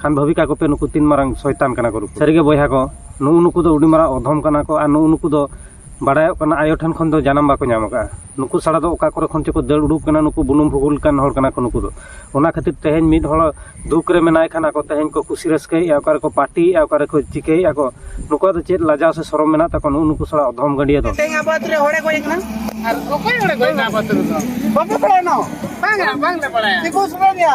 ᱠᱷᱟᱱ ᱵᱷᱟᱹᱵᱤ ᱠᱟᱠᱚ ᱯᱮ ᱱᱩᱠᱩ ᱛᱤᱱ ᱢᱟᱨᱟᱝ ᱥᱚᱭᱛᱟᱱ ᱠᱟᱱᱟ ᱠᱚ ᱱᱩᱠᱩ ᱥᱟᱹᱨᱤᱜᱮ ᱵᱚᱭᱦᱟ ᱠᱚ ᱱᱩᱜᱩ ᱱᱩᱠᱩ ᱫᱚ ᱟᱹᱰᱤ ᱢᱟᱨᱟᱝ ᱚᱫᱷᱚᱢ ᱠᱟᱱᱟ ᱠᱚ ᱟᱨ ᱱᱩᱜᱩ ᱱᱩᱠᱩ ᱫᱚ ᱵᱟᱰᱟᱭᱚᱜ ᱠᱟᱱᱟ ᱟᱭᱳ ᱴᱷᱮᱱ ᱠᱷᱚᱱ ᱫᱚ ᱡᱟᱱᱟᱢ ᱵᱟᱠᱚ ᱧᱟᱢ ᱟᱠᱟᱫᱼᱟ ᱱᱩᱠᱩ ᱥᱟᱲᱟ ᱫᱚ ᱚᱠᱟ ᱠᱚᱨᱮ ᱠᱷᱚᱱ ᱪᱚᱠᱚ ᱫᱟᱹᱲ ᱩᱰᱩᱠ ᱠᱟᱱᱟ ᱱᱩᱠᱩ ᱵᱩᱱᱩᱢ ᱵᱷᱩᱜᱳᱞ ᱠᱟᱱ ᱦᱚᱲ ᱠᱟᱱᱟ ᱠᱚ ᱱᱩᱠᱩ ᱫᱚ ᱚᱱᱟ ᱠᱷᱟᱹᱛᱤᱨ ᱛᱮᱦᱮᱧ ᱢᱤᱫ ᱦᱚᱲ ᱫᱩᱠ ᱨᱮ ᱢᱮᱱᱟᱭ ᱠᱷᱟᱱ ᱟᱠᱚ ᱛᱮᱦᱮᱧ ᱠᱚ ᱠᱩᱥᱤ ᱨᱟᱹᱥᱠᱟᱹᱭᱮᱫᱼᱟ ᱚᱠᱟ ᱨᱮᱠᱚ ᱯᱟᱨᱴᱤᱭᱮᱫᱼᱟ ᱚᱠᱟ ᱨᱮᱠᱚ ᱪᱤᱠᱟᱹᱭᱮᱫᱼᱟ ᱠᱚ ᱱᱩᱠᱩᱣᱟᱜ ᱫᱚ ᱪᱮᱫ ᱞᱟᱡᱟᱣ ᱥᱮ ᱥᱚᱨᱚᱢ ᱢᱮᱱᱟᱜ ᱛᱟᱠᱚ ᱱᱩᱜᱩ ᱱᱩᱠᱩ ᱥᱟᱲᱟ ᱚᱫᱷᱚᱢ ᱜᱟᱹᱰᱤᱭᱟᱹ ᱫᱚ ᱛᱮᱦᱮᱧ ᱟᱵᱚ ᱟᱛᱳ ᱨᱮ ᱦᱚᱲᱮ ᱜᱚᱡ ᱟᱠᱟᱱᱟ ᱟᱨ ᱚᱠᱚᱭ ᱦᱚᱲᱮ ᱜᱚᱡ ᱮᱱᱟ ᱟᱵᱚ ᱟᱛᱳ ᱨᱮᱫᱚ ᱵᱟᱯᱮ ᱵᱟᱲᱟᱭᱟ ᱱᱚᱣᱟ ᱵᱟᱝᱟ ᱵᱟᱝᱞᱮ ᱵᱟᱲᱟᱭᱟ ᱛᱤᱠᱩ ᱥᱩᱨᱮᱱᱤᱭᱟ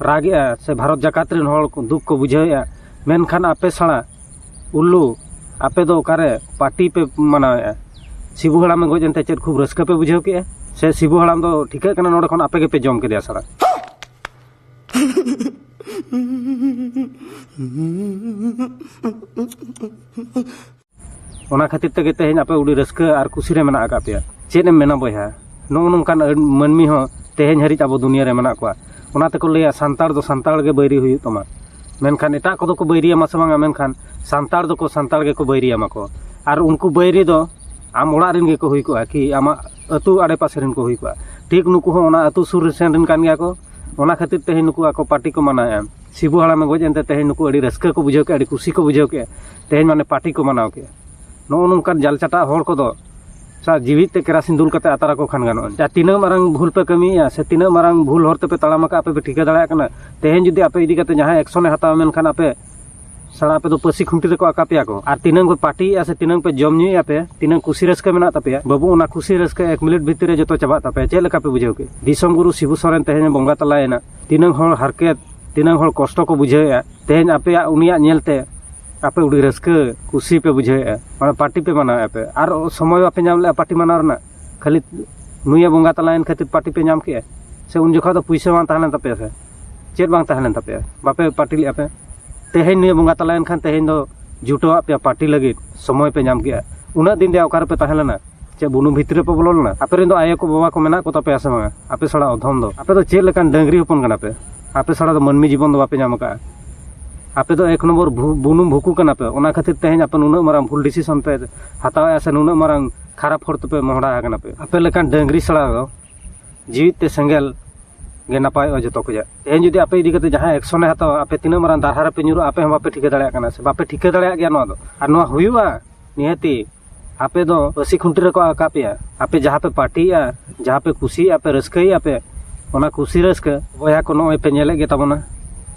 ᱨᱟᱜᱽ ᱮᱫᱼᱟ ᱥᱮ ᱵᱷᱟᱨᱚᱛ ᱡᱟᱠᱟᱛ ᱨᱮᱱ ᱦᱚᱲ ᱠᱚ ᱫᱩᱠ ᱠᱚ ᱵᱩᱡᱷᱟᱹᱣ ᱮᱫᱼᱟ ᱢᱮᱱᱠᱷᱟᱱ ᱟᱯᱮ ᱥᱟᱞᱟ ᱩᱞᱞᱩ ᱟᱯᱮ ᱫᱚ ᱚᱠᱟᱨᱮ ᱯᱟᱴᱤ ᱯᱮ ᱢᱟᱱᱟᱣ ᱮᱫᱼᱟ ᱥᱤᱵᱩ ᱦᱟᱲᱟᱢᱮ ᱜᱚᱡ ᱮᱱᱛᱮ ᱪᱮᱫ ᱠᱷᱩᱵ ᱨᱟᱹᱥᱠᱟᱹ ᱯᱮ ᱵᱩᱡᱷᱟᱹᱣ ᱠᱮᱫᱼᱟ ᱥᱮ ᱥᱤᱵᱩ ᱦᱟᱲᱟᱢ ᱫᱚ ᱴᱷᱤᱠᱟᱹᱜ ᱠᱟᱱᱟ ᱱᱚᱰᱮ ᱠᱷᱚᱱ ᱟᱯᱮ ᱜᱮᱯᱮ ᱡᱚᱢ ᱠᱮᱫᱮᱭᱟ ᱥᱟᱞᱟ ᱚᱱᱟ ᱠᱷᱟᱹᱛᱤᱨ ᱛᱮᱜᱮ ᱛᱮᱦᱮᱧ ᱟᱯᱮ ᱟᱹᱰᱤ ᱨᱟᱹᱥᱠᱟᱹ ᱟᱨ ᱠᱩᱥᱤ ᱨᱮ ᱢᱮᱱᱟᱜ ᱟᱠᱟᱫ ᱯᱮᱭᱟ ᱪᱮᱫ ᱮᱢ ᱢᱮᱱᱟ ᱵᱚᱭᱦᱟ ᱱᱚᱜᱼᱚ ᱱᱚᱝᱠᱟᱱ ᱢᱟᱹᱱᱢᱤ ᱦᱚᱸ ᱛᱮᱦᱮᱧ ᱦᱟᱹᱨᱤᱡ ᱟᱵᱚ ᱫᱩᱱᱤᱭᱟᱹ ᱨᱮ ᱢᱮᱱᱟᱜ ᱠᱚᱣᱟ ᱚᱱᱟ ᱛᱮᱠᱚ ᱞᱟᱹᱭᱟ ᱥᱟᱱᱛᱟᱲ ᱫᱚ ᱥᱟᱱᱛᱟᱲ ᱜᱮ ᱵᱟᱹᱭᱨᱤ ᱦᱩᱭᱩᱜ ᱛᱟᱢᱟ ᱢᱮᱱᱠᱷᱟᱱ ᱮᱴᱟᱜ ᱠᱚᱫᱚ ᱠᱚ ᱵᱟᱹᱭᱨᱤ ᱟᱢᱟ ᱥᱮ ᱵᱟᱝ ᱢᱮᱱᱠᱷᱟᱱ ᱥᱟᱱᱛᱟᱲ ᱫᱚᱠᱚ ᱥᱟᱱᱛᱟᱲ ᱜᱮᱠᱚ ᱵᱟᱹᱭᱨᱤ ᱟᱢᱟ ᱠᱚ ᱟᱨ ᱩᱱᱠᱩ ᱵᱟᱹᱭᱨᱤ ᱫᱚ ᱟᱢ ᱚᱲᱟᱜ ᱨᱮᱱ ᱜᱮᱠᱚ ᱦᱩᱭ ᱠᱚᱜᱼᱟ ᱠᱤ ᱟᱢᱟᱜ ᱟᱹᱛᱩ ᱟᱲᱮ ᱯᱟᱥᱮ ᱨᱮᱱ ᱠᱚ ᱦᱩᱭ ᱠᱚᱜᱼᱟ ᱴᱷᱤᱠ ᱱᱩᱠᱩ ᱦᱚᱸ ᱚᱱᱟ ᱟᱹᱛᱩ ᱥᱩᱨ ᱥᱮᱱ ᱨᱮᱱ ᱠᱟᱱ ᱜᱮᱭᱟ ᱠᱚ ᱚᱱᱟ ᱠᱷᱟᱹᱛᱤᱨ ᱛᱮᱦᱮᱧ ᱱᱩᱠᱩ ᱟᱠᱚ ᱯᱟᱨᱴᱤ ᱠᱚ ᱢᱟᱱᱟᱣᱮᱫᱼᱟ ᱥᱤᱵᱩ ᱦᱟᱲᱟᱢᱮ ᱜᱚᱡ ᱮᱱᱛᱮ ᱛᱮᱦᱮᱧ ᱱᱩᱠᱩ ᱟᱹᱰᱤ ᱨᱟᱹᱥᱠᱟᱹ ᱠᱚ ᱵᱩᱡᱷᱟᱹᱣ ᱠᱮᱫᱼᱟ ᱟᱹᱰᱤ ᱠᱩᱥᱤ ᱠᱚ ᱵᱩᱡᱷᱟᱹᱣ ᱠᱮᱫᱼᱟ ᱛᱮᱦᱮᱧ ᱢᱟᱱᱮ ᱯᱟᱴᱤ ᱠᱚ ᱢᱟᱱᱟᱣ ᱠᱮᱫᱼᱟ ᱱᱚᱜᱼᱚ ᱱᱚᱝᱠᱟᱱ ᱡᱟᱞ ᱪᱟᱴᱟᱜ ᱦᱚᱲ ᱠᱚᱫᱚ ᱥᱟ ᱡᱤᱣᱤ ᱛᱮ ᱠᱮᱨᱟᱥᱤᱱ ᱫᱩᱞ ᱠᱟᱛᱮ ᱟᱛᱟᱨ ᱟᱠᱚ ᱠᱷᱟᱱ ᱜᱟᱱᱚᱜᱼᱟ ᱡᱟ ᱛᱤᱱᱟᱹᱜ ᱢᱟᱨᱟᱝ ᱵᱷᱩᱞ ᱯᱮ ᱠᱟᱹᱢᱤᱭᱮᱫᱼᱟ ᱥᱮ ᱛᱤᱱᱟᱹᱜ ᱢᱟᱨᱟᱝ ᱵᱷᱩᱞ ᱦᱚᱨ ᱛᱮᱯᱮ ᱛᱟᱲᱟᱢ ᱟᱠᱟᱫᱼᱟ ᱟᱯᱮ ᱯᱮ ᱴᱷᱤᱠᱟᱹ ᱫᱟᱲᱮᱭᱟᱜ ᱠᱟᱱᱟ ᱛᱮᱦᱮᱧ ᱡᱩᱫᱤ ᱟᱯᱮ ᱤᱫᱤ ᱠᱟᱛᱮ ᱡᱟᱦᱟᱸᱭ ᱮᱠᱥᱚᱱᱮ ᱦᱟᱛᱟᱣᱟ ᱢᱮᱱᱠᱷᱟᱱ ᱟᱯᱮ ᱥᱟᱲᱟ ᱟᱯᱮ ᱫᱚ ᱯᱟᱹᱥᱤ ᱠᱷᱩᱱᱴᱤ ᱨᱮᱠᱚ ᱟᱠᱟ ᱯᱮᱭᱟ ᱠᱚ ᱟᱨ ᱛᱤᱱᱟᱹᱝ ᱯᱮ ᱯᱟᱴᱤᱭᱮᱫᱼᱟ ᱥᱮ ᱛᱤᱱᱟᱹᱝ ᱯᱮ ᱡᱚᱢ ᱧᱩᱭᱮᱫᱼᱟ ᱯᱮ ᱛᱤᱱᱟᱹᱝ ᱠᱩᱥᱤ ᱨᱟᱹᱥᱠᱟᱹ ᱢᱮᱱᱟᱜ ᱛᱟᱯᱮᱭᱟ ᱵᱟᱹᱵᱩ ᱚᱱᱟ ᱠᱩᱥᱤ ᱨᱟᱹᱥᱠᱟᱹ ᱮᱠ ᱢᱤᱱᱤᱴ ᱵᱷᱤᱛᱤᱨ ᱨᱮ ᱡᱚᱛᱚ ᱪᱟᱵᱟᱜ ᱛᱟᱯᱮᱭᱟ ᱪᱮᱫ ᱞᱮᱠᱟ ᱯᱮ ᱵᱩᱡᱷᱟᱹᱣ ᱠᱮᱫ ᱫᱤᱥᱚᱢ ᱜᱩᱨᱩ ᱥᱤᱵᱩ ᱥᱚᱨᱮᱱ ᱛᱮᱦᱮᱧ ᱵᱚᱸᱜᱟ ᱛᱟᱞᱟᱭᱮᱱᱟ ᱛᱤᱱᱟᱹᱝ ᱦᱚᱲ ᱦᱟᱨᱠᱮᱛ ᱛᱤᱱᱟᱹᱝ ᱦᱚᱲ ᱠᱚᱥᱴᱚ ᱠᱚ ᱵᱩᱡᱷᱟᱹᱣᱮᱫᱼᱟ ᱛᱮᱦᱮᱧ ᱟᱯᱮᱭᱟᱜ ᱩᱱᱤᱭᱟᱜ ᱧᱮᱞ ᱛᱮ ᱟᱯᱮ ᱟᱹᱰᱤ ᱨᱟᱹᱥᱠᱟᱹ ᱠᱩᱥᱤ ᱯᱮ ᱵᱩᱡᱷᱟᱹᱣᱮᱜᱼᱟ ᱢᱟᱱᱮ ᱯᱟᱨᱴᱤ ᱯᱮ ᱢᱟᱱᱟᱣ ᱮᱜᱼᱟ ᱯᱮ ᱟᱨ ᱥᱚᱢᱚᱭ ᱵᱟᱯᱮ ᱧᱟᱢ ᱞᱮᱜᱼᱟ ᱯᱟᱨᱴᱤ ᱢᱟᱱᱟᱣ ᱨᱮᱱᱟᱜ ᱠᱷᱟᱹᱞᱤ ᱱᱩᱭᱮ ᱵᱚᱸᱜᱟ ᱛᱟᱞᱟᱭᱮᱱ ᱠᱷᱟᱹᱛᱤᱨ ᱯᱟᱨᱴᱤ ᱯᱮ ᱧᱟᱢ ᱠᱮᱜᱼᱟ ᱥᱮ ᱩᱱ ᱡᱚᱠᱷᱚᱡ ᱫᱚ ᱯᱩᱭᱥᱟᱹ ᱵᱟᱝ ᱛᱟᱦᱮᱸ ᱞᱮᱱ ᱛᱟᱯᱮᱭᱟ ᱥᱮ ᱪᱮᱫ ᱵᱟᱝ ᱛᱟᱦᱮᱸ ᱞᱮᱱ ᱛᱟᱯᱮᱭᱟ ᱵᱟᱯᱮ ᱯᱟᱨᱴᱤ ᱞᱮᱜᱼᱟ ᱯᱮ ᱛᱮᱦᱮᱧ ᱱᱩᱭᱮ ᱵᱚᱸᱜᱟ ᱛᱟᱞᱟᱭᱮᱱ ᱠᱷᱟᱱ ᱛᱮᱦᱮᱧ ᱫᱚ ᱡᱩᱴᱟᱹᱣᱟᱜ ᱯᱮᱭᱟ ᱯᱟᱨᱴᱤ ᱞᱟᱹᱜᱤᱫ ᱥᱚᱢᱚᱭ ᱯᱮ ᱧᱟᱢ ᱠᱮᱜᱼᱟ ᱩᱱᱟᱹᱜ ᱫᱤᱱ ᱨᱮᱭᱟᱜ ᱚᱠᱟᱨᱮᱯᱮ ᱛᱟᱦᱮᱸ ᱞᱮᱱᱟ ᱪᱮᱫ ᱵᱩᱱᱩᱢ ᱵᱷᱤᱛᱨᱤ ᱨᱮᱯᱮ ᱵᱚᱞᱚ ᱞᱮᱱᱟ ᱟᱯᱮ ᱨᱮᱱ ᱫᱚ ᱟᱭᱳ ᱠᱚ ᱵᱟᱵᱟ ᱠᱚ ᱢᱮᱱᱟᱜ ᱠᱚ ᱛᱟᱯᱮᱭᱟ ᱥᱮ ᱵᱟᱝᱟ ᱟᱯᱮ ᱥᱟᱲᱟ ᱚᱫᱷᱚᱢ ᱫᱚ ᱟᱯᱮ ᱫᱚ ᱪᱮᱫ ᱞᱮᱠᱟᱱ ᱰᱟᱹᱝᱨᱤ ᱦᱚᱯᱚᱱ ᱠᱟᱱᱟ ᱯᱮ ᱟᱯᱮ ᱥᱟᱲᱟ ᱫᱚ ᱢᱟᱹᱱᱢᱤ ᱡᱤᱵᱚᱱ ᱫᱚ ᱵᱟᱯᱮ ᱧᱟᱢ ᱟᱠᱟᱫᱼᱟ ᱟᱯᱮ ᱫᱚ ᱮᱠ ᱱᱚᱢᱵᱚᱨ ᱵᱩᱱᱩᱢ ᱵᱷᱩᱠᱩ ᱠᱟᱱᱟ ᱯᱮ ᱚᱱᱟ ᱠᱷᱟᱹᱛᱤᱨ ᱛᱮᱦᱮᱧ ᱟᱯᱮ ᱱᱩᱱᱟᱹᱜ ᱢᱟᱨᱟᱝ ᱵᱷᱩᱞ ᱰᱤᱥᱤᱥᱚᱱ ᱯᱮ ᱦᱟᱛᱟᱣᱮᱫᱼᱟ ᱥᱮ ᱱᱩᱱᱟᱹᱜ ᱢᱟᱨᱟᱝ ᱠᱷᱟᱨᱟᱯ ᱦᱚᱲ ᱛᱮᱯᱮ ᱢᱚᱦᱰᱟ ᱟᱠᱟᱱᱟ ᱯᱮ ᱟᱯᱮ ᱞᱮᱠᱟᱱ ᱰᱟᱹᱝᱨᱤ ᱥᱟᱲᱟ ᱫᱚ ᱡᱤᱣᱤᱫ ᱛᱮ ᱥᱮᱸᱜᱮᱞ ᱜᱮ ᱱᱟᱯᱟᱭᱚᱜᱼᱟ ᱡᱚᱛᱚ ᱠᱷᱚᱡᱟᱜ ᱛᱮᱦᱮᱧ ᱡᱩᱫᱤ ᱟᱯᱮ ᱤᱫᱤ ᱠᱟᱛᱮ ᱡᱟᱦᱟᱸ ᱮᱠᱥᱚᱱᱮ ᱦᱟᱛᱟᱣᱟ ᱟᱯᱮ ᱛᱤᱱᱟᱹᱜ ᱢᱟᱨᱟᱝ ᱫᱟᱨᱦᱟ ᱨᱮᱯᱮ ᱧᱩᱨᱩᱜᱼᱟ ᱟᱯᱮ ᱦᱚᱸ ᱵᱟᱯᱮ ᱴᱷᱤᱠᱟᱹ ᱫᱟᱲᱮᱭᱟᱜ ᱠᱟᱱᱟ ᱥᱮ ᱵᱟᱯᱮ ᱴᱷᱤᱠᱟᱹ ᱫᱟᱲᱮᱭᱟᱜ ᱜᱮᱭᱟ ᱱᱚᱣᱟ ᱫᱚ ᱟᱨ ᱱᱚᱣᱟ ᱦᱩᱭᱩᱜᱼᱟ ᱱᱤᱦᱟᱹᱛᱤ ᱟᱯᱮ ᱫᱚ ᱯᱟᱹᱥᱤ ᱠᱷᱩᱱᱴᱤ ᱨᱮᱠᱚ ᱟᱠᱟ ᱯᱮᱭᱟ ᱟᱯᱮ ᱡᱟᱦᱟᱸ ᱯᱮ ᱯᱟᱨᱴᱤᱭᱮᱜᱼᱟ ᱡᱟᱦᱟᱸ ᱯᱮ ᱠᱩᱥᱤᱭᱟᱜᱼᱟ ᱯᱮ ᱨᱟᱹᱥᱠᱟᱹᱭᱮᱜᱼᱟ ᱯᱮ ᱚᱱᱟ ᱠᱩᱥᱤ ᱨᱟᱹᱥᱠᱟᱹ ᱵᱚᱭᱦᱟ ᱠᱚ ᱱᱚᱜᱼᱚᱭ ᱯᱮ ᱧᱮᱞᱮᱫ ᱜᱮ ᱛᱟᱵᱚᱱᱟ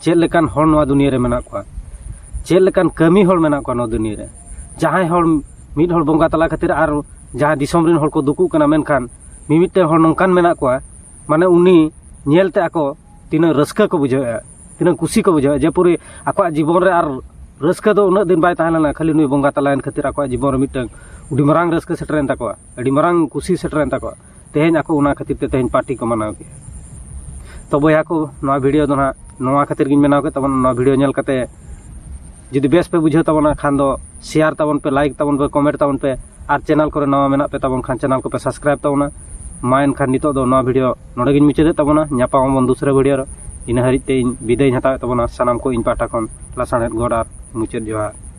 ᱪᱮᱫ ᱞᱮᱠᱟᱱ ᱦᱚᱲ ᱱᱚᱣᱟ ᱫᱩᱱᱤᱭᱟᱹ ᱨᱮ ᱢᱮᱱᱟᱜ ᱠᱚᱣᱟ ᱪᱮᱫ ᱞᱮᱠᱟᱱ ᱠᱟᱹᱢᱤ ᱦᱚᱲ ᱢᱮᱱᱟᱜ ᱠᱚᱣᱟ ᱱᱚᱣᱟ ᱫᱩᱱᱤᱭᱟᱹ ᱨᱮ ᱡᱟᱦᱟᱸᱭ ᱦᱚᱲ ᱢᱤᱫ ᱦᱚᱲ ᱵᱚᱸᱜᱟ ᱛᱟᱞᱟ ᱠᱷᱟᱹᱛᱤᱨ ᱟᱨ ᱡᱟᱦᱟᱸ ᱫᱤᱥᱚᱢ ᱨᱮᱱ ᱦᱚᱲ ᱠᱚ ᱫᱩᱠᱩᱜ ᱠᱟᱱᱟ ᱢᱮᱱᱠᱷᱟᱱ ᱢᱤᱢᱤᱫᱴᱮᱱ ᱦᱚᱲ ᱱᱚᱝᱠᱟᱱ ᱢᱮᱱᱟᱜ ᱠᱚᱣᱟ ᱢᱟᱱᱮ ᱩᱱᱤ ᱧᱮᱞᱛᱮ ᱟᱠᱚ ᱛᱤᱱᱟᱹᱜ ᱨᱟᱹᱥᱠᱟᱹ ᱠᱚ ᱵᱩᱡᱷᱟᱹᱣᱮᱜᱼᱟ ᱛᱤᱱᱟᱹᱜ ᱠᱩᱥᱤ ᱠᱚ ᱵᱩᱡᱷᱟᱹᱣᱟ ᱡᱮ ᱯᱩᱨᱤ ᱟᱠᱚᱣᱟᱜ ᱡᱤᱵᱚᱱ ᱨᱮ ᱟᱨ ᱨᱟᱹᱥᱠᱟᱹ ᱫᱚ ᱩᱱᱟᱹᱜ ᱫᱤᱱ ᱵᱟᱭ ᱛᱟᱦᱮᱸ ᱞᱮᱱᱟ ᱠᱷᱟᱹᱞᱤ ᱱᱩᱭ ᱵᱚᱸᱜᱟ ᱛᱟᱞᱟᱭᱮᱱ ᱠᱷᱟᱹᱛᱤᱨ ᱟᱠᱚᱣᱟᱜ ᱡᱤᱵᱚᱱ ᱨᱮ ᱢᱤᱫᱴᱟᱹᱝ ᱟᱹᱰᱤ ᱢᱟᱨᱟᱝ ᱨᱟᱹᱥᱠᱟᱹ ᱥᱮᱴᱮᱨᱮᱱ ᱛᱟᱠᱚᱣᱟ ᱟᱹᱰᱤ ᱢᱟᱨᱟᱝ ᱠᱩᱥᱤ ᱥᱮᱴᱮᱨᱮᱱ ᱛᱟᱠᱚᱣᱟ ᱛᱮᱦᱮᱧ ᱟᱠᱚ ᱚᱱᱟ ᱠᱷᱟᱹᱛᱤᱨ ᱛᱮ ᱛᱮᱦᱮᱧ ᱯᱟᱨᱴᱤ ᱠᱚ ᱢᱟᱱᱟᱣ ᱠᱮᱜᱼᱟ ᱛᱚ ᱵᱚᱭᱦᱟ ᱠᱚ ᱱᱚᱣᱟ ᱵᱷᱤᱰᱭᱳ ᱫᱚ ᱱᱟᱜ ᱱᱚᱣᱟ ᱠᱷᱟᱹᱛᱤᱨ ᱜᱤᱧ ᱵᱮᱱᱟᱣ ᱠᱮᱫ ᱛᱟᱵᱚᱱᱟ ᱱᱚᱣᱟ ᱵᱷᱤᱰᱭᱳ ᱧᱮᱞ ᱠᱟᱛᱮ ᱡᱩᱫᱤ ᱵᱮᱥ ᱯᱮ ᱵᱩᱡᱷᱟᱹᱣ ᱛᱟᱵᱚᱱᱟ ᱠᱷᱟᱱ ᱫᱚ ᱥᱮᱭᱟᱨ ᱛᱟᱵᱚᱱ ᱯᱮ ᱞᱟᱭᱤᱠ ᱛᱟᱵᱚᱱ ᱯᱮ ᱠᱚᱢᱮᱱᱴ ᱛᱟᱵᱚᱱ ᱯᱮ ᱟᱨ ᱪᱮᱱᱮᱞ ᱠᱚᱨᱮ ᱱᱟᱣᱟ ᱢᱮᱱᱟᱜ ᱯᱮ ᱛᱟᱵᱚᱱ ᱠᱷᱟᱱ ᱪᱮᱱᱮᱞ ᱠᱚᱯᱮ ᱥᱟᱵᱥᱠᱨᱟᱭᱤᱵ ᱛᱟᱵᱚᱱᱟ ᱢᱟ ᱮᱱᱠᱷᱟᱱ ᱱᱤᱛᱚᱜ ᱫᱚ ᱱᱚᱣᱟ ᱵᱷᱤᱰᱤᱭᱳ ᱱᱚᱰᱮ ᱜᱤᱧ ᱢᱩᱪᱟᱹᱫᱮᱫ ᱛᱟᱵᱚᱱᱟ ᱧᱟᱯᱟᱢ ᱟᱵᱚᱱ ᱫᱩᱥᱨᱟ ᱵᱷᱤᱰᱤᱭᱳ ᱨᱮ ᱤᱱᱟᱹ ᱦᱟᱹᱨᱤᱡ ᱛᱮ ᱤᱧ ᱵᱤᱫᱟᱹᱭ ᱦᱟᱛᱟᱣᱮᱫ ᱛᱟᱵᱚᱱᱟ ᱥᱟᱱᱟᱢ ᱠᱚ ᱤᱧ ᱯᱟᱦᱴᱟ ᱠᱷᱚᱱ ᱞᱟᱥᱟᱬᱦᱮᱫ ᱜᱚᱰ ᱟᱨ ᱢᱩᱪᱟᱹᱫ ᱡᱚᱦᱟᱨ